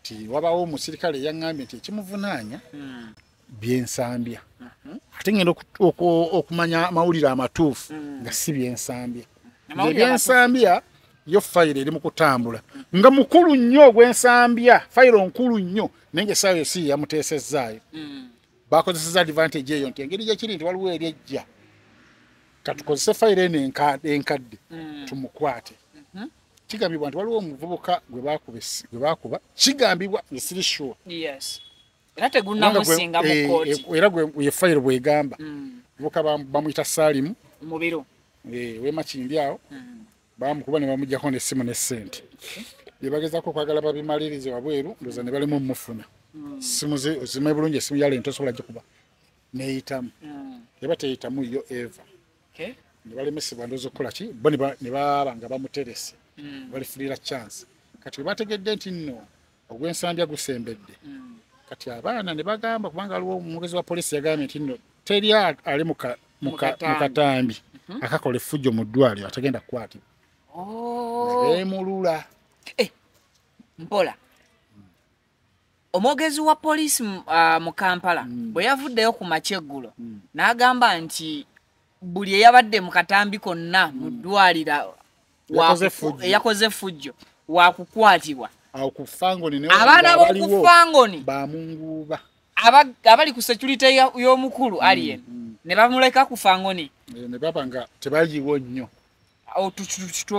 kati wabawo omusirikale eyaŋambye nti ekimuvunaanya hmm. byensambya mhm. ate ngenda okumanya amawulire amatuufu hmm. nga si byensambya ebyensambya yo fayiro eri mukutambula nga mukulu nnyo ogwensambya fayiro nkulu nnyo naye nga esaawa yo si yeyamuteesezzaayo hmm. bakozeseza advantage eyo nti engeri gyekiri nti waliwo eri ejja katukozese fayiro eno enkadde mm. tumukwate mm-hmm. kigambibwa nti waliwo omuvubuka gwe bakuba kigambibwa nesiri sure era tegunamusinga mu eh, kooti eh, era gwe ye file bwegamba mm. buka bamuyita salimu mubiro eh wema kindi awo mm. bamukuba nebamujjako nesimu nesente byebagezako okwagala babimalirize wabweru ndoza nebalemu omufuna hmm. simu zimaye bulungi esimu yale ntosobola gikuba neyitamu hmm. eba teyitamu yo eva nebalemesebwa ndoza okukolaki bo nebaba nga bamuterese hmm. balifulira chance kati webategedde nti no ogw'ensambya gusembedde mm. kati abaana ne bagamba kubanga aliwo omwogezi wa poliisi yagambye nti no teri ali mu katambi mhm. akakola effujjo mu ddwaliro atagenda kukwatibwa oh. nebemulula eh, mpola omwogezi wa poliisi ah, mu kampala mm. bwe yavuddeyo ku makya eggulo mm. n'agamba nti buli eyabadde mu katambi konna mu ddwaliro eyakoze effujjo wakukwatibwa abaana b'okufangoni bamunguuba abali ku security y'omukulu mm, alien mm. ne bamuleka ku fangoni eh, ne baba nga tebaliwo nnyo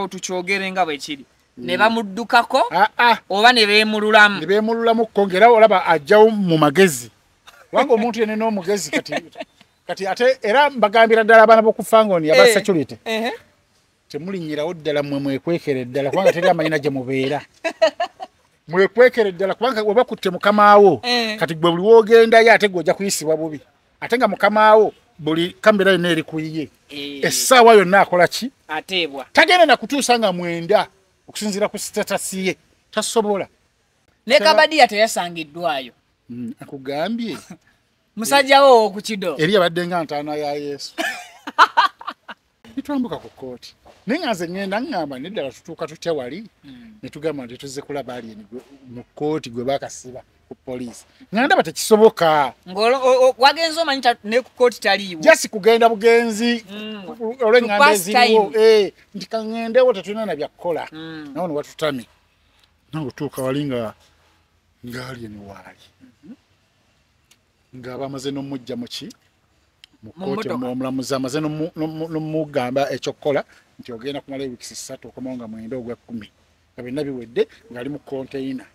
tukyogere nga bwe kiri mm. ne bamuddukako ah, ah. oba ne beemululamu ne beemululamu ko ng'era olaba ajjawo mu magezi kubanga omuntu yene n'omugezi kati kati ate era mbagambira ddala abaana b'oku fangoni aba eh, security eh, temulinyirawo ddala mwe mwekwekere ddala kubanga teri amanyina gye mubeera mwekwekere ddala kubanga oba kutte mukamaawo eh. kati gwe buli wogendayo ate gwe ojja kuyisibwa bubi ate nga mukamaawo buli kamera yonna eri kuyiye eh. essaawa yonna akola ki ateebwa tagenda nakutuusa nga mwenda okusinziira ku sitatasi ye tasobola ne kabadiya teyasangiddwayo mm, akugambye musajja wo owoku kido eri abadde nga ntaana ya yesu nitwambuka ku kooti naye nga nze ŋŋenda ŋŋamba neddala tutuuka tutya wali hmm. ne tugamba nti tuzze kulaba ali mu kooti gwe bakasiba ku poliisi nga ndaba tekisoboka wagenze omanyi ne ku kooti taliiwo jasi kugenda bugenzi hmm. olwenganda eziriwo eh, nti kaŋŋendewo tetulina na byakukola hmm. nawo ne watutami nawe otuuka wali nga ngaali eno waali nga bamaze n'omujja muki mu kkooti omulamuzi amaze nomugamba ekyokukola nti ogenda kumala ewiks ssatu okomawo nga mwenda ogwekkumi nga byonna biwedde ngaali mu konteyina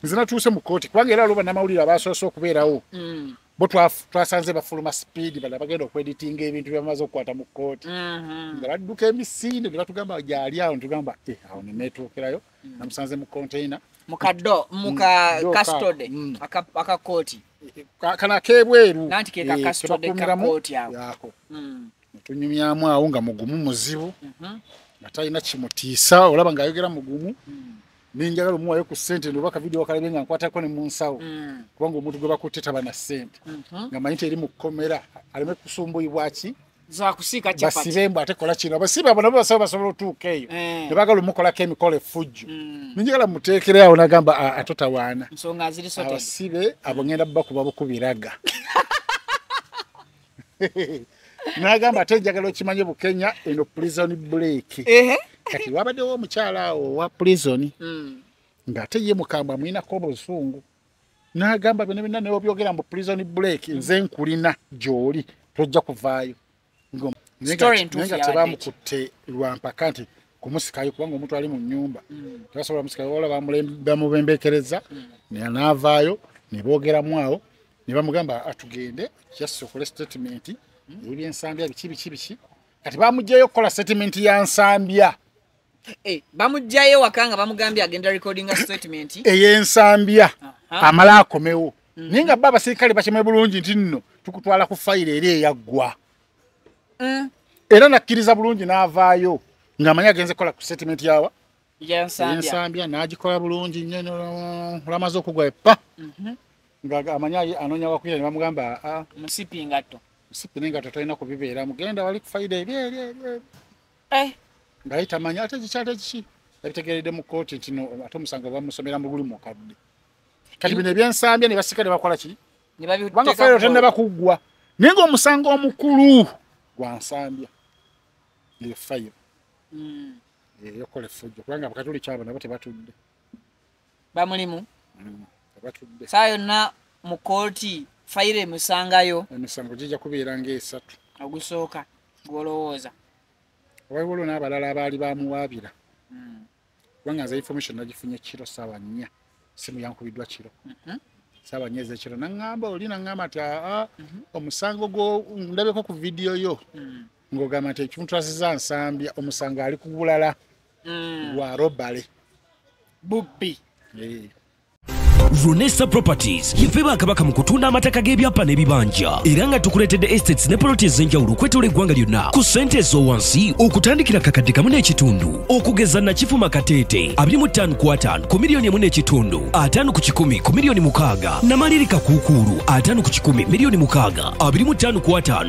nze natuuse mu kkooti kubanga era aloba namawulire abasoose okubeerawo mm. bo twasanze bafuluma sipiidi bala bagenda okweditinga ebintu byebamaze okukwata mu kkooti mm-hmm. nga badduka emisinde ne batugamba gyali awo netugamba eh, awo nenetuukirayo mm. namusanze mu container mu kaddo mu mm. ka custody mm. aka aka koti kana kebweru nanti ke ka eh, custody ka koti ako mm. tunyumyamu awo nga mugumu muzibu mm -hmm. atalina kimutiisa olaba nga ayogera mugumu mm. nenjagala omuwayo ku sente ndoba kavidiyo wakalabe nga nkwatako ne munsawo mm. kubanga omuntu gwe bakutte taba na sente mm -hmm. nga manyi teri mu kkomera aleme kusumbuyibwaki zakusiika chapati basibe mbu ate kola kino abasibe abo nabo basaba basobola otuuka eyo eh. ne bagala omukolako emikola effujjo mm. ninjagala muteekere awo nagamba atotawaana nsonga azirisote abasibe abo ngenda bakuba bukubiraga nagamba ate njagala okimanye bukenya eno prison break kati wabaddewo omukyala awo owa prison mm. ng'ate ye mukambwe amuyinako obuzungu nagamba byona byona newabyogera mbu prison break nze nkulina gyoli tojja kuvaayo nga tebamukutte lwampaka nti kumusikayo kubanga omuntu ali mu nyumba mm. tebasobola musikayo wala bamubembekereza mm. navaayo nebogeramu awo nebamugamba atugende just okole statement mm. ebyensambya biki biki biki kati bamugjayo okukola statement ya nsambya Eh, bamujjayo ewaka nga bamugambye agenda recordinga statement eyensambya amala akomewo mm. naye nga ba abasirikale bakime bulungi nti nno tukutwala ku fayiro eri eyaggwa mm. era nakkiriza bulungi n'avaayo ng'amanyi agenze kukola ku statement yawa yensambya n'agikola bulungi nyo olamaze okugwa epa mhm. nga amanyi anoonya wakuira ne bamugamba ah, ah. musipi ngatto musipi nengatto tolina kubibeera mugenda wali ku fayiro eri eri eri eh. ngaye tamanya ate kikyate kiki yabitegeredde mu kkooti nti ate omusango bamusomera muguli mukadde kati bino ebyensambya ne basika ne bakola ki kubanga fayiro tennaba kuggwa naye ngaomusango omukulu gwa nsambya eyo fayiro hmm. eyokola effujjo kubanga abakatuli kyabo nabo tebatudde bamulimu mm, abatudde saa yonna mu kooti fayiro emusangayo emisango gijja kubeera ngaesatu ogusooka gwolowooza waliwo lwo n'abalala abaali bamuwaabira mm. kubanga nze information nagifunye kiro saawa nnya simu yankubiddwa kiro mhm. saawa nnya ezekiro naŋŋamba oli naŋŋamba nti aa ah, ah, mhm. omusango gwo ndabeko ku vidiyo yo mm. ng'ogamba nti ekimutrasiza nsambya omusango ali kubulala mm. gwa robale bubbi eh. Runesa Properties yefe bakabaka mu kutunda amataka g'ebyapa n'ebibanja era nga tukuleetedde estates ne poloti ez'enjawulo okwetoola eggwanga lyonna ku ssente ez'owansi okutandikira kakadde kamu n'ekitundu okugeza nakifuma kateete abiri mu ttaano ku ataano ku miliyoni emu n'ekitundu ataano ku kikumi ku miliyoni mukaaga namalirika kuukuulu ataano ku kikumi miliyoni mukaaga abiri mu ttaano ku ataano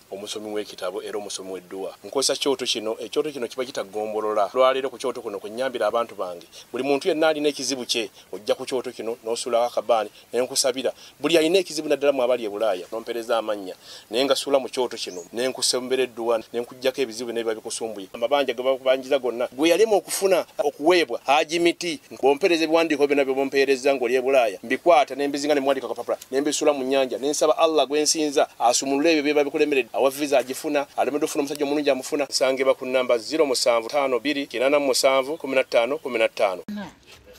omusomi w'ekitabo era omusomi w'edduwa nkozesa kyoto kino ekyoto eh, kino kiba kita ggombolola lwaleero ku kyoto kuno kwenyambira abantu bange buli muntu yenna alina ekizibu kye ojja ku kyoto kino n'osuulawo akabaani ne nkusabira buli alina ekizibu naddala mu abali e bulaaya nompereza amannya naye nga suula mu kyoto kino ne nkusembera edduwa ne nkuggyako ebizibu bino biba bikusumbuye amabanja ge bakubanjiza gonna gwe yalema okufuna okuweebwa haji miti bwompereza ebiwandiiko byona byebompeerezza ngoli ebulaaya mbikwata nembizinga nemwandika kapapula nembisula mu nyanja nensaba allah gwensinza asumulule ebyo byeba bikulemeredde awa visa agifuna alemedde ofuna omusajja omulungi amufuna sangibwa ku namba 0752871515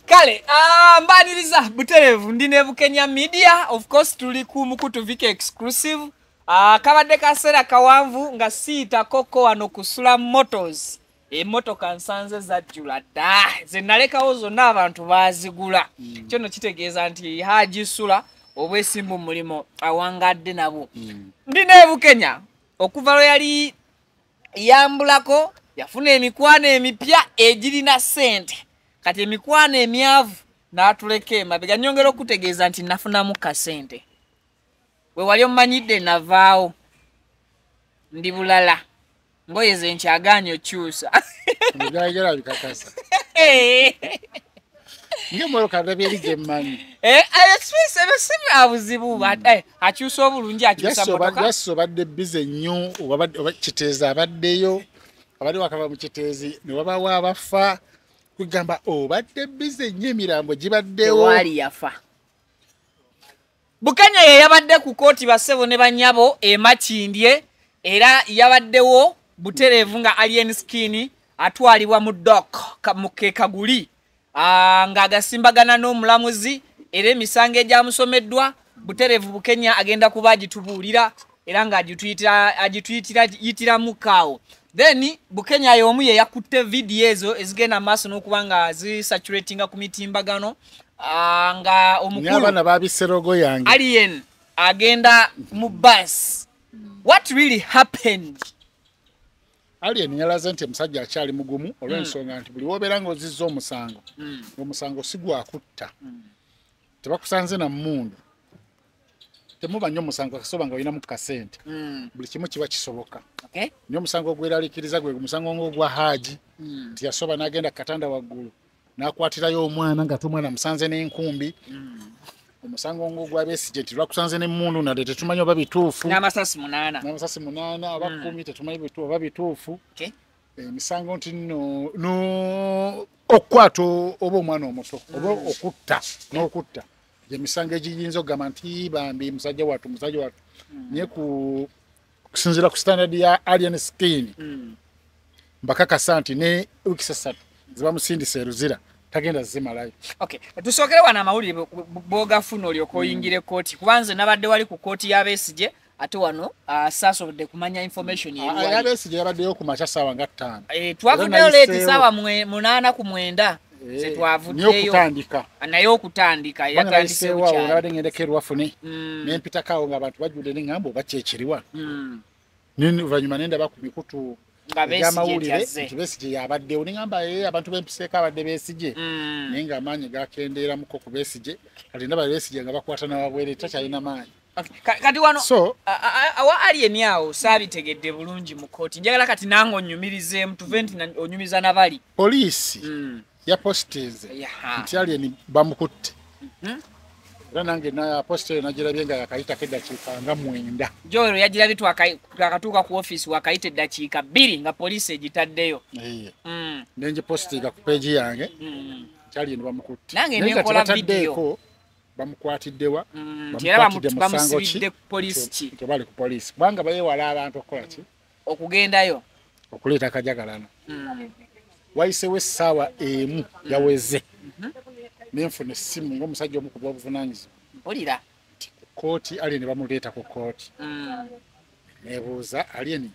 kale ah, mbaniriza buterevu ndi nebukenya media of course tuli ku mukutu vika exclusive ah, kabadde kaseera kawanvu nga siyitakoko wano kusula motors emotoka nsanze zajjula dda zenalekawo zonna abantu bazigula mm. kyono kitegeeza nti hajisula obwesimbu mulimu awangadde nabwo mm. ndi nebukenya okuva lwe yali yambulako yafuna emikwano emipya egirina sente kati emikwano emyavu natuleka emabega nyongera okutegeeza nti nafunamu kasente we wali omanyidde navaawo ndi bulala ngoye ze nkyagaanyi okyusa ebyayogera bikakasa ngemookadabyerigemmanyiebisibuzibu eh, eh, eh, akyusa obulungi akyusaso obadde bize nnyo kiteezi abaddeyo abadde wakava mu kiteezi ne wabawo abafa kugamba obadde bize nnyo emirambo gibaddewo yafa bukenya yeyabadde ku kooti basebo ne banyabo emakindye era yabaddewo butereevu nga alien skin atwalibwa mu dok mu kekaguli ah, ng'agasimbagana n'omulamuzi era emisango egyamusomeddwa butereevu bukenya agenda kuba agitubuulira era nga agituyitiramu kaawo then bukenya yomu ye yakutte vidiyo ezo ezigenda maaso n'okuba nga zisaturatinga ku mitimbagano ah, nga omukuluabaana babiserogo yange alien agenda mu bus what really happened alien yalaze nti omusajja akyali mugumu olw'ensonga mm. nti buli wobeera nga ozizza omusango mm. omusango sigwakutta mm. tebakusanze na mundu temuba nnyo musango kasoba nga olinamu kasente mm. buli kimu kiba kisoboka okay. nyo omusango ogweralikiriza gwe musango ngaogwa haaji mm. nti yasoba n'agenda ku katanda waggulu n'akwatirayo omwana nga te omwana musanze n'enkumbi mm. omusango ngaogwabesigye nti lwakusanze n'emmundu nadde tetumanyi oba bituufu n'amasasi munaana n'amasasi munaana aba mm. kumi tetumanyi oba bituufu okay. emisango eh, nti no, no okukwata oba omwana omuto oba mm. okutta n'okutta gye misango egiyinza okugamba nti bambi musajja wattu musajja wattu hmm. naye ku okusinziira ku standard ya alien skin hmm. mbakakasa nti ne wikisi essatu zibamusindisa eruzira tagenda zimalayo okay tusokere wana amawulire boga funo lyo koyingire mm. koti kubanze nabadde wali ku koti ya besije ate wano uh, saasobodde kumanya information yeyabesige ah, yabaddeyo ku makya saawa nga ttaano eh, twavuddeyo leeti saawa munaana ku mwenda eh, zetwavuddeyookutandika ah, naye okutandika yatandiseewonabadde ngendeko erwafune mm. nempitakaawo nga abantu bajjudde neŋamba oba kyekiriwa mm. noluvanyuma nendaba ku mikutu amawulire nti besige yabaddewo neŋamba ye abantu bempiseeko abadde besige mm. naye nga amaanyi gakendeeramuko ku besige kati ndaba besige nga bakwata nawabwere takyalina maanyi kati wano so awa alien awo saabitegedde bulungi mu kooti njagala kati nange onyumirizeemu tuve nti onyumiza nabali poliisi mm. yapositinze nti alien bamukutte mm-hmm. era nange napositeri nagirabye nga yakayitako eddakiika nga mwenda joero yagirabye twakatuuka ku ofiisi wakayita eddakiika bbiri nga poliisi egitaddeyo mm. nengipositiga ku peegi yange mm. nti alien bamukutte nange nekola vidiyo bamukwatidde wa mm, bamusibidde ku poliisi ki tebali ku poliisi kubanga bayewala abantu okukola ki okugendayo okuleeta akajagalano mm. wayisewo essaawa emu mm. yaweze mm-hmm. nenfuna essimu ngaomusajja omukuba obuvunanyizibwa mpulira kooti ali ne bamuleeta ku kooti mm. nebuuza alieni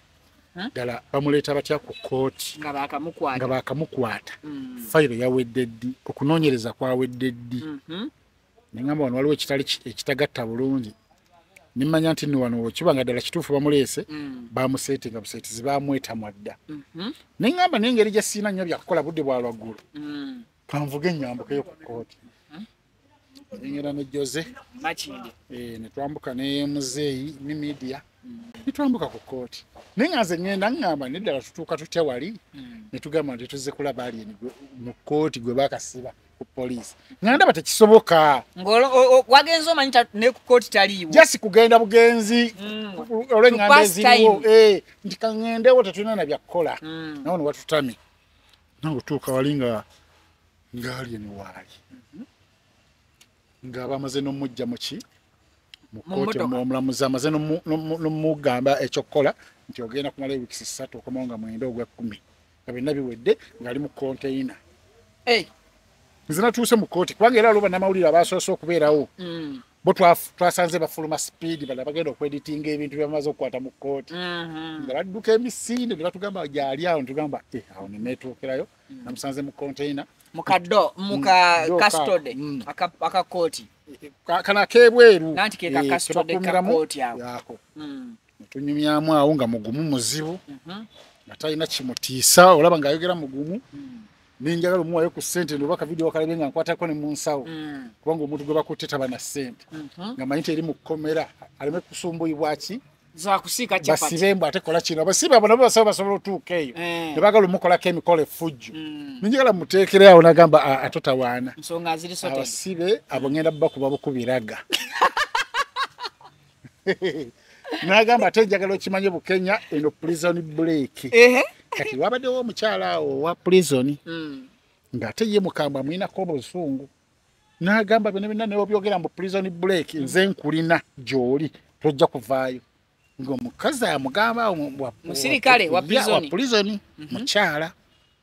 ddala bamuleeta batya ku kooti nga baakamukwata mm. fayiro yawedde ddi okunoonyereza kwawedde ddi mhm. nengamba wano waliwo ekitali ekitagatta bulungi nemanya nti ni wano kiba nga ddala kituufu bamuleese mm. bamuseete nga buseetizi bamwetamwa dda mhm. nengamba nengeri gye siina nnyo byakukola budde bwa lwaggulu mm. kanvuga enyambukeyo ku kooti nengera ne jose makindi eh, netwambuka ne muzeeyi ne media mm. netwambuka ku kooti naye nga nze ngenda ngamba neddala tutuuka tutya wali mm. netugamba nti tuzze kulaba ali mu kooti gwe bakasiba ku poliisi nga ndaba tekisoboka wagenze omanyi ne ku kooti taliiwo jasi kugenda bugenzi mm. olwengamba eziriwo eh, nti kangendewo tetulina na byakukola nawo newatutamye nakutuuka wali nga ngaali emiwaali mhm. nga bamaze nomujja muki mukooti omulamuzi amaze nomugamba ekyokukola nti ogenda kumala ewikisi satu okomao nga mwenda ogwekumi nga byonna biwedde ngaali mu konteyina nze natuuse mu kooti kubanga era aloba namawulire abasoose okubeerawo mm. bo twasanze bafuluma sipiidi bala bagenda okweditinga ebintu byebamaze okukwata mu kkooti mm-hmm. nga badduka emisinde ne batugamba gyali awo netugamba eh, awo nenetuukirayo mm. namusanze mu konteina mukado mukakastode mm, mm. akakooti kana akebweru kebakumiramuako eh, netunyumyamu awo nga mugumu muzibu mm-hmm. nga talina kimutiisa olaba nga ayogera mugumu nenjagala omuwayo ku sente noba kavidiyo wakalabe nga nkwatako ne munsawo mm. kubanga omuntu gwe bakutte taba na sente mhm. nga manyi teri mu kkomera aleme kusumbuyibwaki basibe mbu ate kola kino basibe abo nabo basaba basobola otuuka eyo eh. nebagala omukolako emikolo efujjo mm. nenjagala muteekere awo nagamba atotawaana abasibe abo ngenda bubakuba bukubiraga nagamba ate njagala okimanye bukenya eno prison break kati wabaddewo omukyala awo owa prison hmm. ng'ate ye mukambwe amwinako obuzungu nagamba bino byonna neobyogera mu prison break nze nkulina gyoli tojja kuvaayo ngaomukazi amugamba musirikale wa prison mhm. mukyala mm -hmm.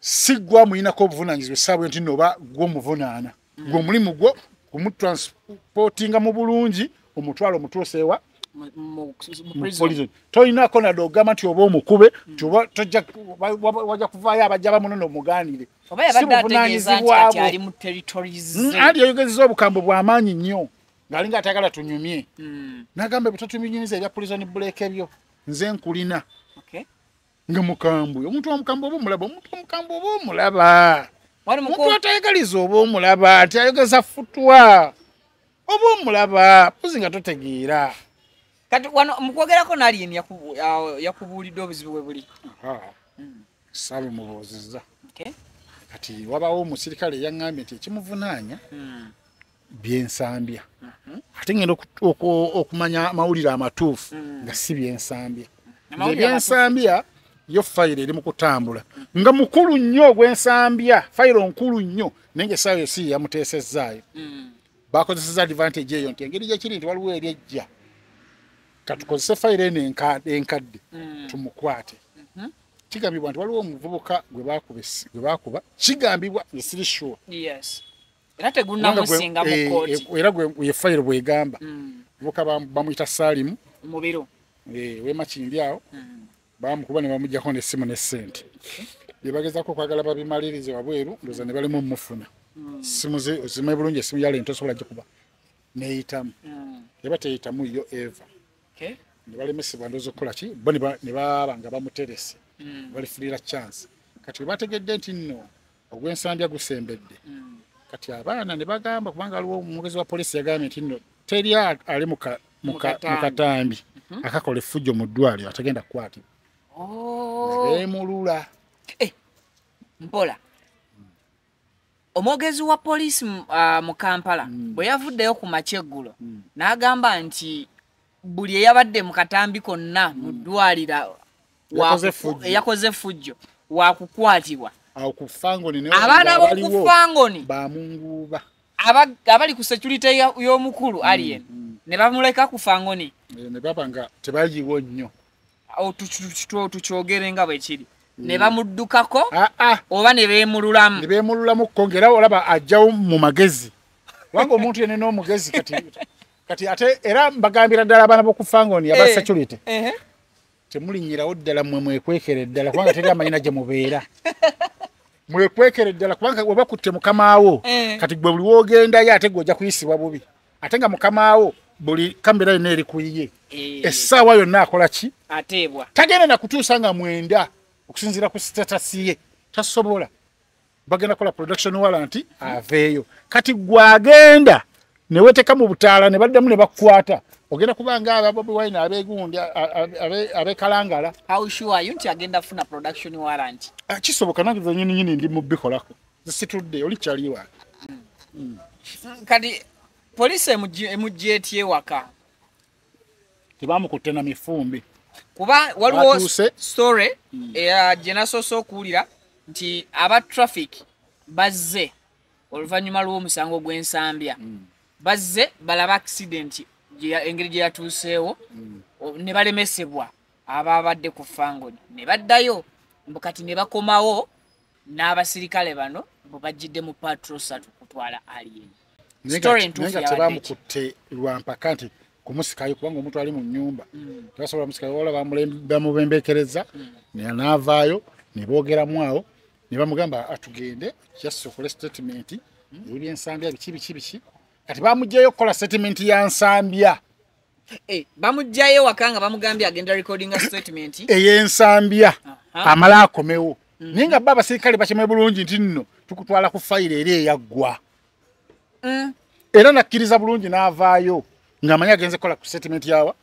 si gwe amuyinako obuvunaanyizibwa essaabu nti no oba gwe omuvunaana mm. gwe omulimu gwo kumutransportinga mu bulungi omutwalo omutuuseewa tolinako nade ogamba nti oba omukube mm. nti wajja kuvaayo abajja bamunona omugaanire sibuvunanyizibwabwe mm, andi yayogezeza obukambwe bwamaanyi nnyo ngaali nga atagala tunyumye nagamba ebitatuminyiriza ebya pulizoni buleeka ebyo nze nkulina nga mukambwe omuntu wamukambwe oba omulaba omuntu wamukambwe oba omulaba omuntu atayagaliza oba omulaba ti ayogeza futwa oba omulaba puzi nga totegeera kati wano mukwogerako nalini yakubuulidde obuzibu bwe buli hmm. saabe mubuuziza kati wabawo omusirikale yaŋambye nti ekimuvunaanya hmm. byensambya mhm. ate ngenda okumanya amawulire amatuufu mm. nga si byensambya ebyensambya yo fayiro eri mu kutambula nga mukulu nnyo ogwensambya fayiro nkulu nnyo naye nga esaawa yosi yeyamuteesezzaayo mm. bakozeseza advantage eyo nti engeri gyekiri nti waliwo eri ejja katukozese fayiro eno enkadde mm. tumukwate mhm. kigambibwa nti waliwo omuvubuka gwe bakuba kigambibwa nge siri sure era tegunamusinga mu eh, kooti eh, era gwe ye file bwegamba mm. buka bamuyita Salim mubiro eh wema kindi awo mm. bamukuba ne bamujja ko ne simu ne sente yebageza ko kwagala babimalirize wabweru ndoza ne balimu mufuna mm. simu ze ozime bulungi simu yale nto sobola kuba neyita mm. yaba teyita mu yo ever okay ne bali mesi bandozo kola ki boni ba ne baba nga bamuterese mm. bali fulira chance kati bategedde nti no ogw'ensambya gusembedde mm. kati abaana ne bagamba kubanga aliwo omwogezi wa poliisi yagambye nti no teri ali mu katambi mhm. akakola effujjo mu ddwaliro atagenda kukwatibwa oh. nebemulula eh, mpola omwogezi wa poliisi ah, mu kampala mm. bwe yavuddeyo ku makya eggulo mm. n'agamba nti buli eyabadde mu katambi konna mu hmm. ddwaliro eyakoze effujjo wakukwatibwa abaana b'okufangoni abali ku securite y'omukulu hmm, alien hmm. ne bamuleka ku fangoni eh, ne baba nga tebayiwo nnyo tukyogere nga bwe kiri ne bamuddukako ah, ah. oba ne beemululamu ne beemululamu ko ngaera olaba ajjawo mu magezi kubanga omuntu yene n'omugezi kati kati ate era mbagambira ddala abaana bokufangoni aba eh, security eh. temulinyirawo ddala mwe mwekwekere ddala kubanga teri amanyina gye mubeera mwekwekere ddala kubanga oba kutte mukamaawo eh. kati gwe buli wogendayo ate gwe ojja kuyisibwa bubi ate nga mukamaawo buli kamera yonna eri kuyiye essaawa yonna akola ki ateebwa tagenda nakutuusa nga mwenda okusinziira ku sitatasi ye tasobola bagenda kola production warranty aveyo kati gwagenda ne weteka mu butala ne baddamu ne bakwata ogenda kubanga aba bobi wine abe gundi abe abe kalangala how sure are you nti agenda funa production warranty ah, kisoboka nange za nyini nyini ndi mu bikolako zisitudde oli chali wa mm. mm. kati police emujje emujje tie waka tebamukutte na mifumbi kuba waliwo story hmm. eya gye nasoose okuwulira nti aba traffic bazze oluvannyuma lw'omusango gw'ensambya hmm. bazze balaba accident engeri gye yatuuseewo hmm. ne balemesebwa abaabadde ku fangoni ne baddayo mbu kati ne bakomawo n'abasirikale bano bwe bajjidde mu patro satu kutwala alien tebamukutte lwampaka nti kumusikayo kubanga omuntu ali mu nyumba mm. tebasobola musikayo wala bamubembekereza mm. naavaayo neboogeramu awo nebamugamba atugende just okole statement mm. ebyensambya biki biki biki kati bamugjayo okukola statement ya nsambya Eh, bamujjayo ewaka nga bamugambye agenda recordinga statement eyensambya amala akomewo mm. naye nga ba abasirikale bakime bulungi nti nno tukutwala ku fayiro eri eyaggwa mm. era nakkiriza bulungi n'avaayo ng'amanyi agenze kukola ku statement yawa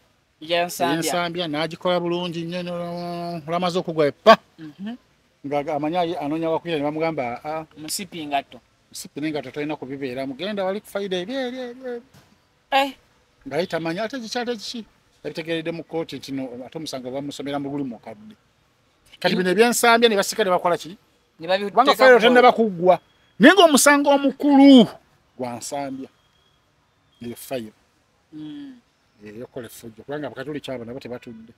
yensambya n'agikola bulungi nyo olamaze okugwa epa mhm. nga amanyi anoonya wakuira ne bamugamba ah, musipi ngatto musipi nengatto tolina kubibeera mugenda wali ku fayiro eri eri eri eh. naye tamanya ate kikyate kiki yabitegeredde mu kkooti nti ate omusango bamusomera mu guli mukadde kati bino ebyensambya ne basika ne bakola ki kubanga fayiro tennaba kuggwa naye ngaomusango omukulu gwa nsambya eyo fayiro hmm. eyokola effujjo kubanga abakatuli kyabo nabo tebatudde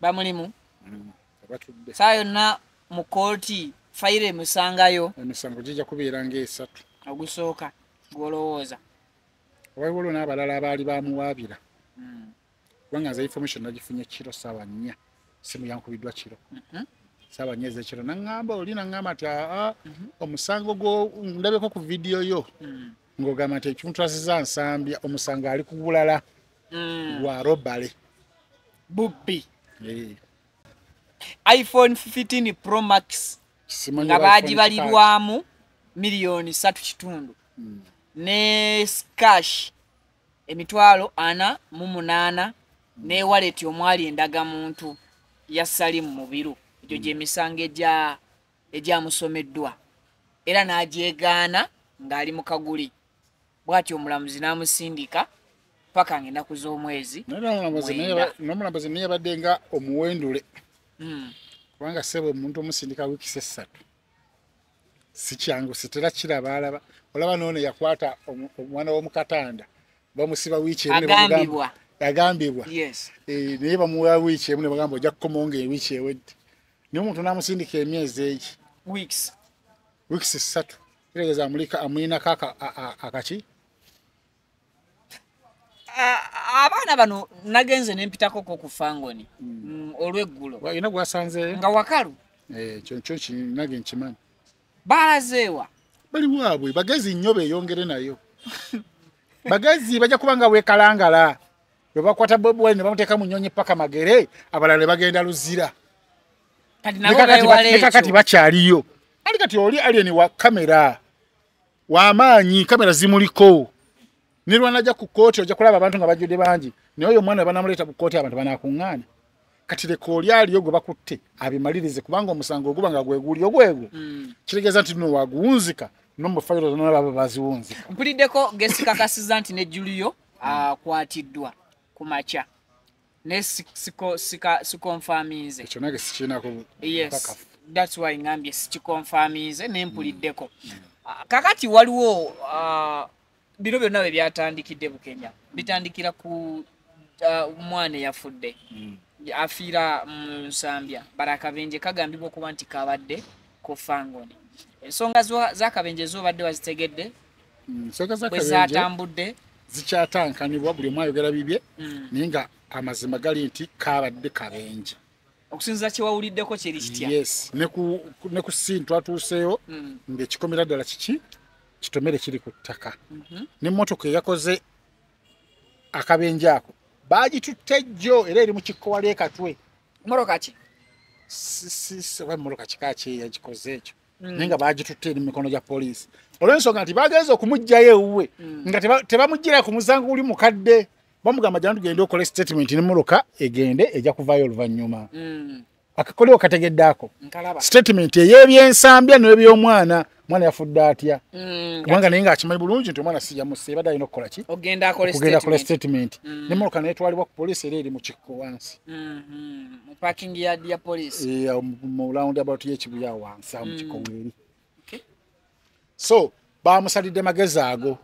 bamulimu mm, abatudde saa yonna mu kooti fayiro emusangayo emisango gijja kubeera ngaesatu ogusooka gwolowooza waliwo lwo n'abalala abaali bamuwaabira mm. kubanga nze information nagifunye kiro saawa nnya simu yankubiddwa kiro mhm. saawa nnya ezekiro naŋŋamba oli naŋŋamba nti aa mhm. omusango gwo ndabeko ku vidiyo yo mm. ng'ogamba nti ekimutrasiza nsambya omusango ali ku bulala mm. gwa robale bubbi eh. iphone 15 pro max nga baagibalirwamu miliyoni satu kitundu mm. ne scash emitwalo ana mu munaana mm. ne waleti omwali endagamuntu ya salimu mubiru egyo gyemisango egya egyamusomeddwa era n'agyegaana ng'ali mu kaguli bw'atyo omulamuzi n'amusindika paka ng'ennaku z'omwezi n'omulambuzi naye yabadde nga omuwendule hmm. kubanga sebo omuntu omusindika wiikisi essatu sikyangu sitera kiraba alaba olaba noono yakwata omwana w'omukatanda bamusiba wiiki agambibwa eh, naye bamuwa wiiki emu ne bagamba ojja kukomawo ng'ewiiki ewedde naye omuntu namusindika emyezi egi weeks weeks ssatu kiregeza amulika amulinako akaki abaana bano nagenze nempitako ko ku fangoni hmm. mm, olweggulo nga wakalu eh, kyo kinage nkimanyi balazeewa bali waabwe bagezi nnyo beyongere nayo bagezi bajja kuba nga wekalangala webakwata bobi wine nebamuteeka mu nyonyi paka magere abalala nebagenda luzira nekakati bakyaliyo ali kati oli alien wa kamera wamaanyi kamera zimuliko nilwanaja ku kkooti ojja kulaba abantu nga bajjudde bangi naye oyo omwana webanamuleeta ku kkooti abantu banakuŋŋaana kati leka oli aliyo gwe bakutte abimalirize kubanga omusango oguba nga gweguli ogwegwo hmm. kitegeeza nti no waguwunzika nomufayiro zona baba baziwunzika mpuliddeko gesikakasiza nti ne juliyo akwatiddwa ku makya naye sikonfaminze ekyo nage sikiinako bukakafu that's why ngambye sikikonfaminze nempuliddeko hmm. kakati waliwo uh, bino byonna bwe byatandikidde bukenya bitandikira ku uh, mwana eyafudde mm. afiira mu nsambya bara akabenje kagambibwa okuba nti kabadde ku fangoni ensonga z'akabenje ezobadde wazitegedde mm, bwe zatambudde zikyatankanibwa buli omu ayogera bibye mm. naye nga amazima gali nti kabadde kabenje okusinzira kyewawuliddeko kyeri kitya yes ne ku ne ku sin twatuuseeyo mm. ng'ekikomera ddala kiki kitomere kiri ku ttaka mm -hmm. ne mmotoka eyakoze akabenje ako baagitutte jjo era eri mu kikkowa ly'ekatwe mmotoka ki oba mmotoka kika ki yagikoze ekyo mm. naye nga baagitutte eri mu mikono gya poliisi olw'ensonga nti bagenza okumuggyayo ewuwe mm. nga tebamuggyira ku musango guli mukadde bamugamba jantu genda okole statement ne muloka egende eja kuvayo oluvanyuma mm. akakoleo kategedde ako statement ey'ebyensambya n'ebyomwana mwana yafudde atya mm, kubanga naye ngaakimanyi bulungi nti omwana siyamuse ebadde alina okukola ki okugenda akola statement mm. ne muloka netwalibwa ku poliisi era eri mu kikko wansi mm-hmm. mu lawundi abatu yekibuya wansi awo mu kikko mm. weeri so bamusalidde magezi ago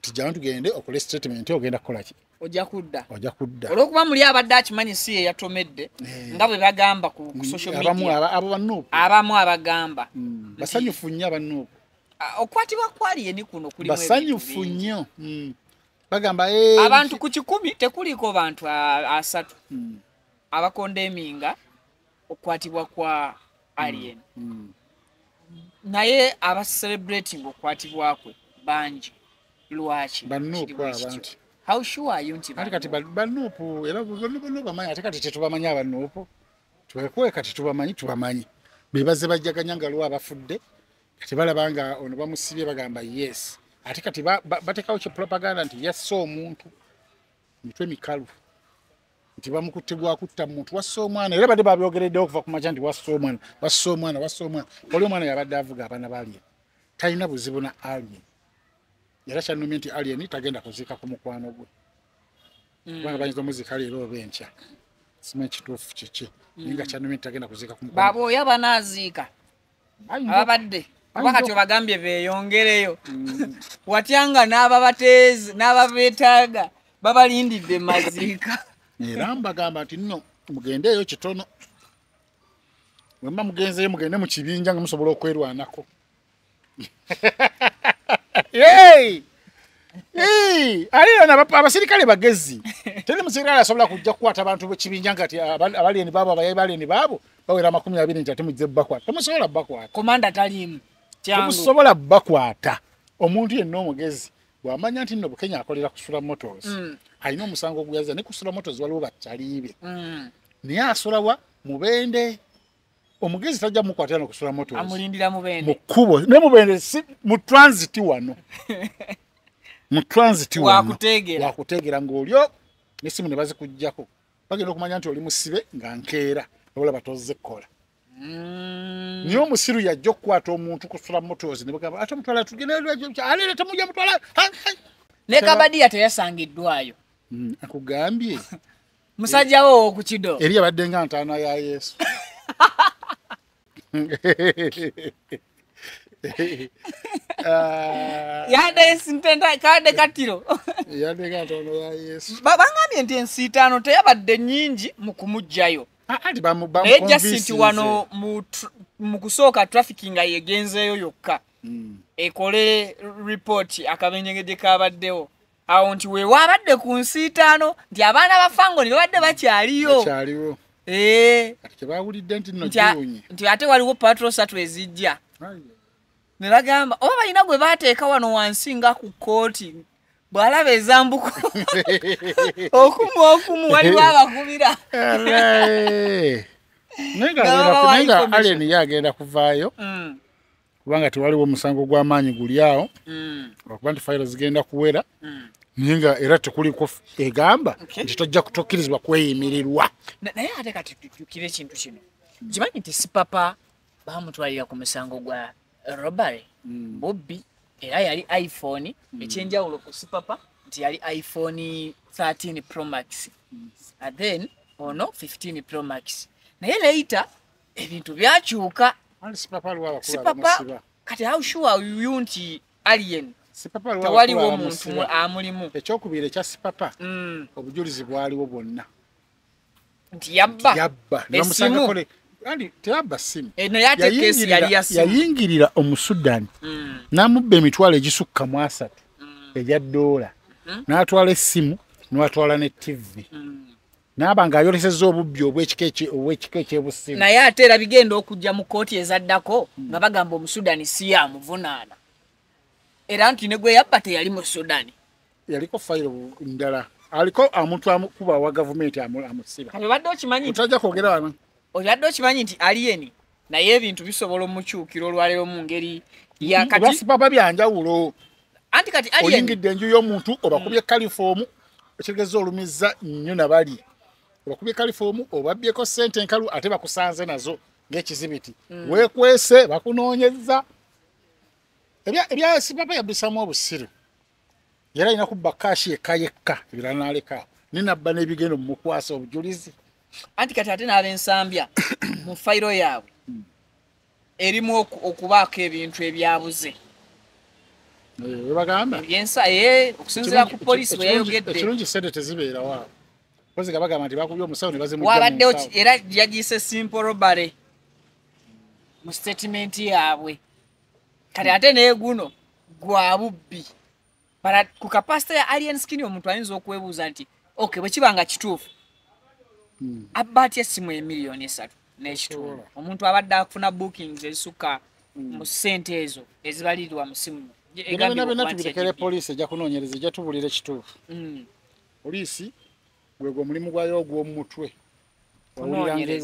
tijjana tugende okole statement ogenda kukola ki ojja kudda ojja kudda olwokuba muli abadde akimanyi si ye yatomedde eh. nga bwe bagamba ku mm, social media abo banuupu abamu abagamba mm, basanyufu nnyo abanuupu okukwatibwa kwali yeni kuno kuli basanyufu nnyo mm. bagamba eh, abantu ku kikumi tekuliiko bantu asatu abakonda eminga okukwatibwa kwa alien mm. mm. naye aba celebrating okukwatibwa kwe bangi lwaki how sure are you nti kati kati banupu era bano bano bamanyi ate kati tetubamanyi abanupu twekuwe kati tubamanyi tubamanyi bebaze bajjaganya nga lwa abafudde kati balaba nga ono bamusibye bagamba yes ate kati batekawo kye propaganda nti yassa omuntu mitwe mikalu nti bamukutte gwa kutta muntu wassa omwana era badde babyogereddewo okuva ku makya nti wassa omwana wassa omwana wassa omwana oli omwana yabadde avuga abaana ba alien talina buzibu na alien era kyanumye nti alien tagenda kuziika ku mukwano gwe mm. kubanga bayinza omuziika leero oba enkya simanyi kituufu kiki naye nga mm. kyanumye nti tagenda kuziika ku mukwano baba oyo abanaziika ababadde kuba kati obagambye beeyongereyo mm. watya nga n'ababateezi n'ababeetaaga babalindidde maziika era mbagamba nti nno mugendeeyo kitono wemba mugenzeyo mugende mu kibinja nga musobola okwerwanako abasirikale bagezi teri musirikale asobola kujja kukwata abantu bekibinja nga ti abaleni baabo abayayi baleni baabo bawera amakumi abiri nti ate mujje bakwata temusobola bakwata komanda taliimu temusobola bakwata omuntu yenna omugezi bwamanya nti nno bukenya akolera kusula motos mm. alina omusango oguyaza ne kusula motos waliwo bakyaliibe mm. naye asulawa mubende omugezi tajja mukwatira nokusula motos amulindira mubende mu kkubo ne mubende si mu transit wano mu transit wano wakuteegera ng'olyo nesimu ne bazikugjako bagenda okumanya nti oli musibe nga nkeera olaba tozze kukola mm. naye omusiru yajja okukwata omuntu kusula mumotozi nebagamba ate mutwala tugendealere temuja mutwala ne kabadiya teyasangiddwayo mm, akugambye musajjawo owokukido eri abadde nga ntaana ya yesu Ah, yadde esintenta kadde kattiro yadde katono ya yesu Ba- bangambye nti ensiitaano teyabadde nnyingi mu kumuggyayo Ah, anti bamu bamu naye just nti convincinze. wano mu tr- mu kusooka traffic nga yegenzeeyo yokka Mm. ekole report akabenjegede kabaddewo awo nti wewaabadde ku nsiitaano nti abaana ba fangoni babadde bakyaliyo eh. nti ate waliwo patro satu ezijja ne bagamba oba balina gwe bateeka wano wansi nga ku kkooti bwalaba ezambuko okumu okumu waliwo abakubira naye nga aleni ye agenda kuvaayo mm. kubanga tewaliwo omusango gw'amaanyi guli awo mm. lwakuba nti fayiro zigenda kuwera mm. naye nga era tekuliko egamba nti tojja kutokkirizibwa kweyimirirwa naye ate kati tujukire ekintu kino kimanyi nti sipapa bamutwalira ku musango gwa robary mm. bobbi era yali iphone ekyenjawulo ku sipapa nti yali iphone 13 promax then ono 15 promax naye leita ebintu byakyuka sipapa kati how sure are you nti alien tewaliwo omuntu amulimu ekyokubiri ekya sipapa mm. obujulizi bwaliwo bwonna nti yabba yabba esimu teyabba simu eh, yayingirira omusudani mm. n'amubba emitwalo egisukka mu asatu mm. egya doola mm-hmm. n'atwala essimu n'atwala ne tivi mm. naaba ng'ayolesezza obubbi obw'ekika ekyebusimu naye ate era bigenda okujja mu kkooti ezaddako hmm. nga bagamba omusudani si yamuvunaana era nti ne gwe yabba teyali mu sudani yaliko fayiro ndala aliko omuntu akuba wa gavumenti amusiba obadde okimanyi nti otajja kwogera wano obadde okimanyi nti aliyeni naye ebintu bisobola omukyukira olwaleero mu ngeri yakatibaba byanjawulo anti kati oyingidde enju y'omuntu obakubye mm. kalifoomu ekitegeeza olumiza nnyo nabali obakubye kalifoomu obabyeko sente enkalu ate bakusanze nazo ng'ekizibiti mm. wekwese bakunoonyeza ebyasibaba yabisamu obusiru era alina kubba kaashi yekka yekka ebirala naleka naye nabba n'ebigendo mumukwasa obujulizi anti kati ate n'abensambya mu fayiro yaabwe hmm. erimu okubaako ebintu ebyabuze webagamba ebyensa ee okusinzira ku polisi weyayogedde ekirungi sente tezibeerawo awo kozi nga bagamba nti bakubye omusawo ne bazimuwabaddewo era yagiyise simple robbery mu sitatimenti yaabwe kati ate neguno gwa bubbi but ku kapasita ya alien skin omuntu ayinza okwebuuza nti ok bwekiba nga kituufu hmm. abba atya essimu emiliyoni esatu n'ekitundu omuntu abadde akufuna bookings ezisukka hmm. mu ssente ezo ezibalirirwa mu simu ebina byonna tubirekere poliisi ejja kunoonyereza ejja tubulira ekituufu hmm. poliisi gwegwo omulimu gwayo ogw'omumutwe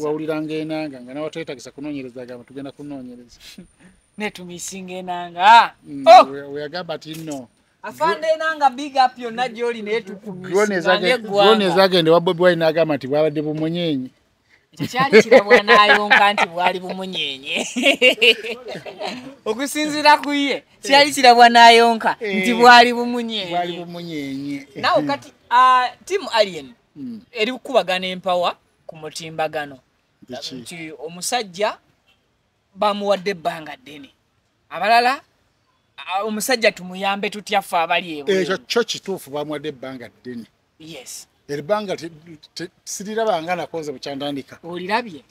wawuliranga enanga nga nawe twetagisa kunonyereza agamba tugenda kunonyereza netumisinga enanga mm, oh! weyagamba ti no afande enanga big up yonna gyoli naye tukumisdrone ezagenda wa bobi wine agamba nti bwabadde bumunyenyi tekyali kirabwanayonka nti bwali bumunyenye okusinzira ku ye kyali kirabwanayonka eh. nti bwali bumunyenye nawe kati ah, timu alien hmm. eri kukubagana empawa ku mutimbagano nti omusajja bamuwadde ebbanga ddene abalala omusajja tumuyambe tutya ffe abali ekyo kyo kituufu bamuwadde ebbanga ddene yes ebbanga sirirabanga nakoze bukyantandika olirabye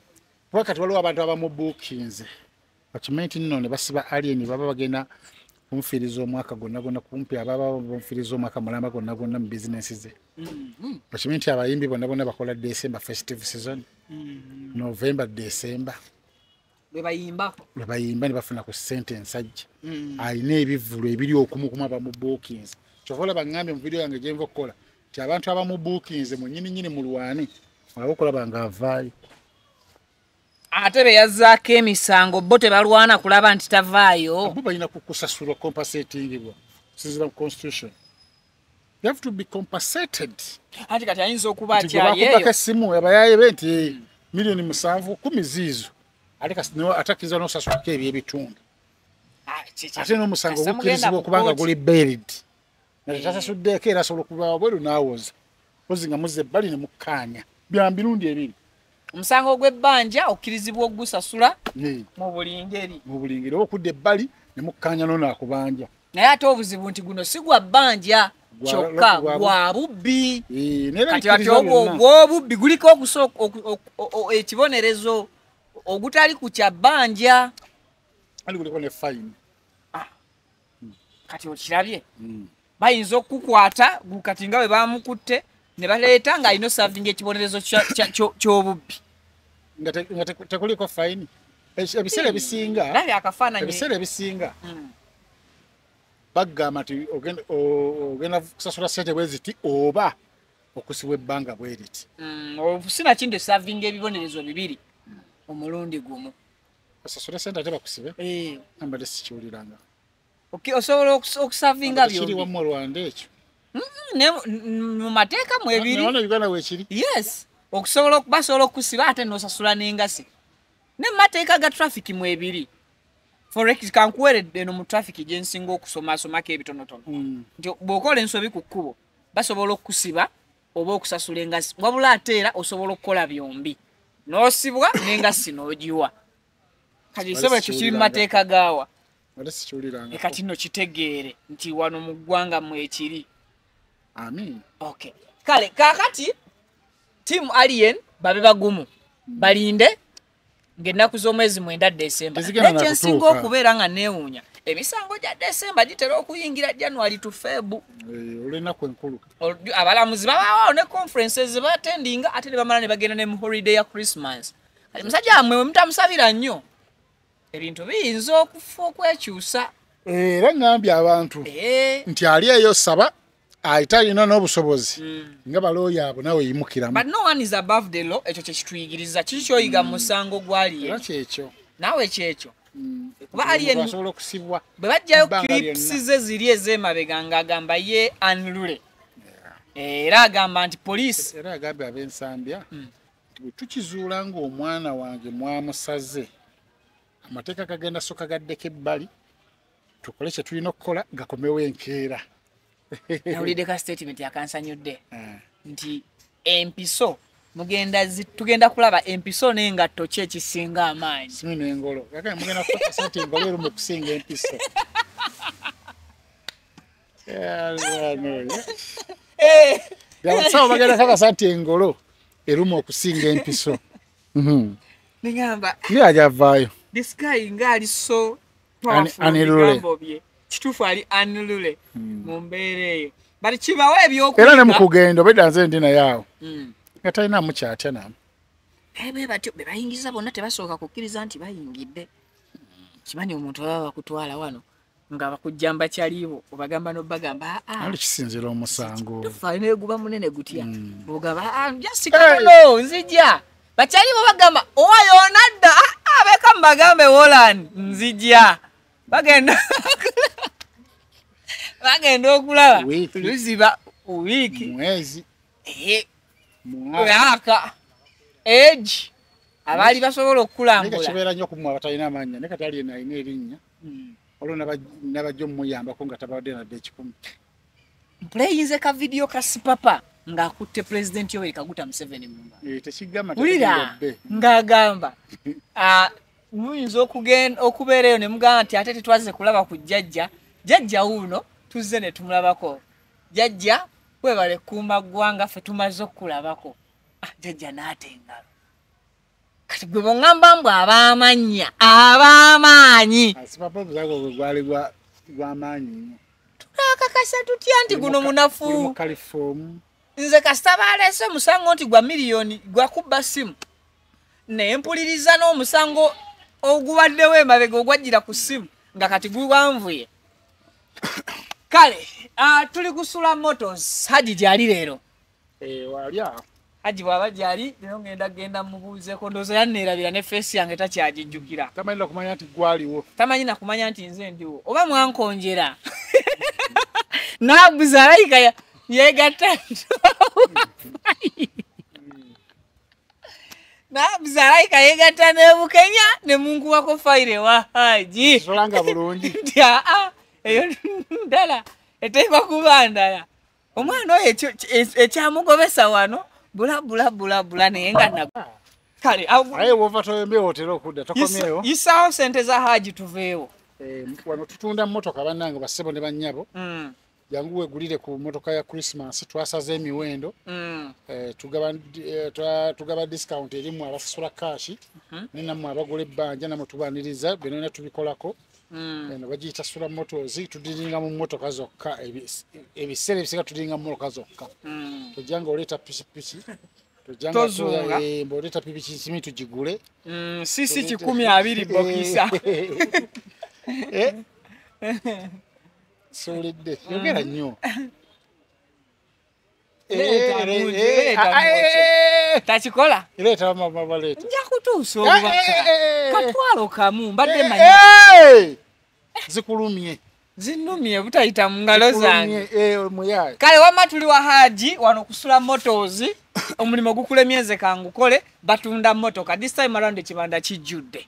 kuba kati waliwo abantu abamubuukinze bakimanyi nti nno ne basiba alien baba bagenda kumufiriza omwaka gonna gonna kumpi ababa bamufiriza omwaka mulamba gonna gonna mu bizinensi ze mm-hmm. bakimanyi nti abayimbi bonna bonna bakola december festive season mm-hmm. november december lwebayimba lwebayimba ne bafuna ku sente ensajja mm-hmm. alina ebivulu ebiri okumukumu abamubuukinze kyova olaba ngambye mu vidiyo yange gyenva okukola nti abantu abamubuukinze mu nyini nyini mulwane olaba okulaba nga avaayo ate beyazzaako emisango bo tebalwana kulaba nti tavaayo bo balina kukusasulwa compasatingibwa sinzira mu constitution you have to be compensated anti kati ayinza okuba akyalieyobakubaka essimu abayaye be nti eh, miliyoni musanvu kumi ziizo atakiriza nosasukako ebyebitundu ah, ate nomusango gukirizibwa okubanga guli baired naye tasasuddeeko era asobola okuva wabweru n'awoza mpozi nga muzza ebbali ne mukkaanya bya mirundi ebiri omusango ogw'ebbanja okkirizibwa okugusasula mu buli ngeri mu buli ngeri oba okudda ebbali ne mukkaanya nono akubanja naye ate obuzibu nti guno si gwa bbanja kyokka gwa bubbi kati ati obwo obw'obubbi guliko okusooka ekibonerezo ogutali ku kya bbanja ali guliko ne fayini kati okirabye mm. bayinza okukukwata kati nga bwe bamukutte ne baleeta ng'alina osavinga ekibonerezo ky'obubbi nga tekuliko fayini ebiseera ebisinga ebiseera ebisinga hmm. bagamba nti ogenda kusasula sente bwe ziti oba okusibwa ebbanga bwe riti hmm, sinakindi osavinga ebibonerezo bibiri omulundi gumu osasule sente ate bakusibe eh. ambadde sikiwuliranga osobola okusavinga byokiri wamu olwanda ekyo mu mateeka mu ebiri uganda wekiri yes okusobola basobola okukusiba ate nosasula n'engasi ne mu mateeka ga traffic mu ebiri forex kankuweredde eno mu traffic gye nsinga okusomasomako ebitonotono hmm. nti bw'okola ensobi ku kkubo basobola okukusiba oba okusasula engassi wabula ate era osobola okukola byombi n'osibwa n'engassi n'ogiwa kati nsebo ekyo kiri mu mateeka gaawa e kati no kitegeere nti wano mu ggwanga mwekiri amin okay kale kakati tiamu alien babe bagumu balinde ng'ennaku z'omwezi mwenda desemba naye kyensinga okubeera nga neewuunya emisango gya desemba gitera okuyingira january to febu eh, olwenaku enkulu abalamuzi babawaawo ne conferences zebatendinga ate ne bamala ne bagenda ne mu holiday ya christmas kati musajja wamwe wemutamusabira nnyo ebintu biyinza okufa okwekyusa eh, era ngambye abantu eh. nti ali eyo saba ayita ah, alina n'obusobozi hmm. nga balooya abo nawe yimukiramu but no one is above the law ekyo kyekituyigiriza kiki kyoyiga mu hmm. musango gwaliye era kyekyo nawe kyekyo hmm. kuba aliyenasobola okusibwa bwe bajjayo clips ze ziri ez'emabega ng'agamba ye anlule era agamba nti poliisi era agambe ab'ensambya bwe tukizuula ng'omwana wange mwamusaze amateeka kagenda soka gaddeko ebbali tukole kye tulina okukola gakomewo enkeera nawulidde ka statement akansanyudde eh. nti empiso mugenda tugenda kulaba empiso n'engatto ki ekisinga amaanyi simu nengolo aga mugenda kukakasa nti engolo erumu okusinga empiso abasawo bagenda kakasa nti engolo erumu okusinga empiso mhm. nigamba ye ajavaayo this guy ngaali so anigambo bye kitufu ali anilule hmm. mu mbeera eyo bati kibawo ebyokuera ne mukugenda obeda nze ndi naye awo hmm. nga talina mukyatya namu naye bwe batyo be bayingiza bonna tebasooka kukkiriza nti bayingidde kimanyi omuntu baba bakutwala wano nga bakujjamba kyaliibo obagamba nobagamba ah, ah. ali kisinzira omusango tufaneguba munene gutya hmm. ogaba ah, njasikatano nzija bakyali bo bagamba owa yona dda ah, ah, beka mubagambe woland nzija bagenda bagenda okulaba luziba wiiki mwezi mwaka egi abaali basobola okukulambulakibeera nyo kumwe abatalina amanya ne kati alina alina erinnya hmm. olwo nabajja omuyambako nga tabadde nadde ekikumi mpuleyinze ka vidiyo ka sipapa ng'akutte pulezidenti yoweri kaguta museveni mumba eh, wulira ng'agamba ah, muyinza okugenda okubeera eyo ne mugamba nti ate tetwaze kulaba ku jjajja jjajja wuuno tuzze ne tumulabako jjajja webale kuuma ggwanga ffe tumaze okukulabako ah, jjajja n'ate engalo kati gwe bongamba mbu abamanya abamaanyi turakakasa tutya nti guno munafu nze kasita baleese omusango nti gwa miliyoni gwakubba simu naye mpuliriza n'omusango ogubaddewo emabega ogwajjira ku simu nga kati gubanvuye kale ah, tuli kusula motos haji gyali leero eh, wali awo haji bwaba gyali lero ngenda genda mubuuzeko ndowooza yanneerabira ne feesi yange takyagijjukira tamanyi nakumanya nti gwaliwo tamanyi nakumanya nti nze ndiwo oba mwankonjera nabuza alayika yegatta nabuza alayika yegatta nebukenya nemunkuwako fayire wa haji solanga bulungi nti aa eyo ndala eteekwa kuba ndala omwana oyo ekyamugobesa wano bulabulabulabula naye nga kale aye wova toyombewo otera okudda tokomyewo isaawo sente za haji tuveewo eh, wano tutunda motoka bannange bassebo ne bannyabo mm. jangu wegulire ku motoka ya christmas twasaze emiwendo mm. eh, tugaba, eh, tugaba discount erimu abasasula kashi mm -hmm. nenamwe abagula ebbanja namwe tubaniriza byonona tubikolako Mm. eno bagiyita sula motos tudiringa mu motoka zokka ebiseera ebisinga tudiringa mumotoka zokka mm. tojja nga oleeta pikipiki tojjangaoleeta eh, pikipikisimi tugigule mm, sisi kikumi abiri bokisa eh? siwulidde yogera nnyo Leeta munju, leeta munju. takikola leeta mama baleeta nja kutuusa Eh, obubaka eh, eh, eh, eh. katwalo kamu mbadde manyi Eh, zikulumye zinumye butayita mu ngalo zange Zikulumye, eh, muyaye kale wamma tuli wa haji wano kusula motos omulimu gukulemyeze kangukole batunda motoka this time around ekibanda kijjudde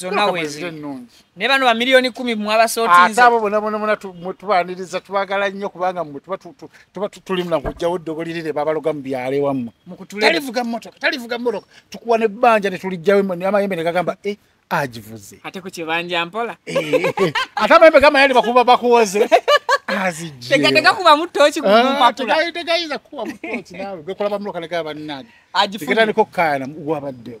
zonna weziri ennungi naye bano bamiliyoni kumi mwabasootinze abo bona bona bona tubaniriza tubagala nnyo kubanga mwe tuba tulimu nakujjawo eddoboli lire babaloga mu byalo ewammwe talivuga mmotoka talivuga mmotoka tukuwa nebbanja ne tulijjawo amayembe ne gagamba e agivuze ate ku kibanja mpola eh, eh, eh. ate amayembe gama yali bakuba bakuwoze azijjetegayinza ah, kukuba mutoki nawe gwekulaba muloka negaba bannage agifugetandika okukayana wabaddewo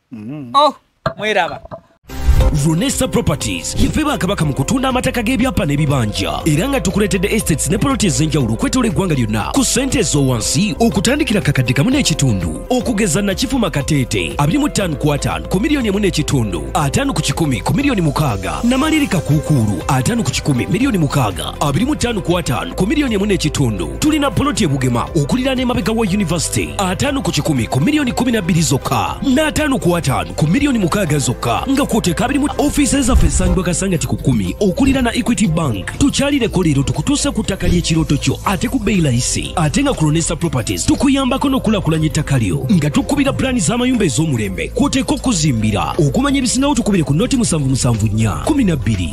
mm. oh mweraba Ronesa Properties yeffe bakabaka mu kutunda amataka g'ebyapa n'ebibanja era nga tukuleetedde estates ne poloti ez'enjawulo okwetoola eggwanga lyonna ku ssente ez'owansi okutandikira kakadde kamu n'ekitundu okugeza nakifuma kateete abiri mu ttaano ku ataano ku miliyoni emu n'ekitundu ataano ku kikumi ku miliyoni mukaaga namalirika kuukuulu ataano ku kikumi miliyoni mukaaga abiri mu ttaano ku ataano ku miliyoni emu n'ekitundu tulina poloti ebugema okulira n'emabega wa yunivasite ataano ku kikumi ku miliyoni kumi na bbiri zokka n'ataano ku ataano ku miliyoni mukaaga zokka nga kwoteka abiri mu ofiisi zaffe esangibwa kasangati ku kumi okulira na equity bank tukyalireko leero tukutuuse ku ttaka ly'ekirooto kyo ate ku bbeyi layisi ate nga kulonesa properties tukuyambako n'okulakulanya ettaka lyo nga tukubira pulaani z'amayumba ez'omulembe kwoteka okuzimbira okumanya ebisingawo tukubire ku noti musanvu musanvu nnya kumi na bbiri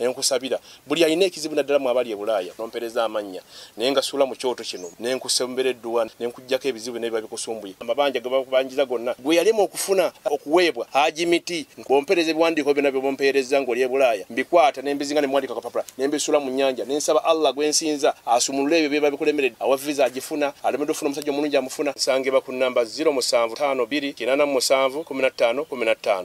nenkusabira buli alina ekizibu naddala mwabali ebulaaya nompereza amannya naye nga suula mu kyoto kino nenkusembera edduwa nenkujjako ebizibu nebiba bikusumbuye amabanja gebakubanjiza gonna gwe yalema okufuna okuweebwa haji miti bompereza ebiwandiiko byona byebompeereza ngaoli ebulaaya mbikwata nembizinga nemuwandika kapapula nembisuula mu nyanja nensaba allah gwensinza asumulule ebyo byeba bikulemeredde awa visa agifuna alemedde ofuna omusajja omulungi amufuna nsangibwa ku namba 0 musanvu 52 kinana musanvu 15 15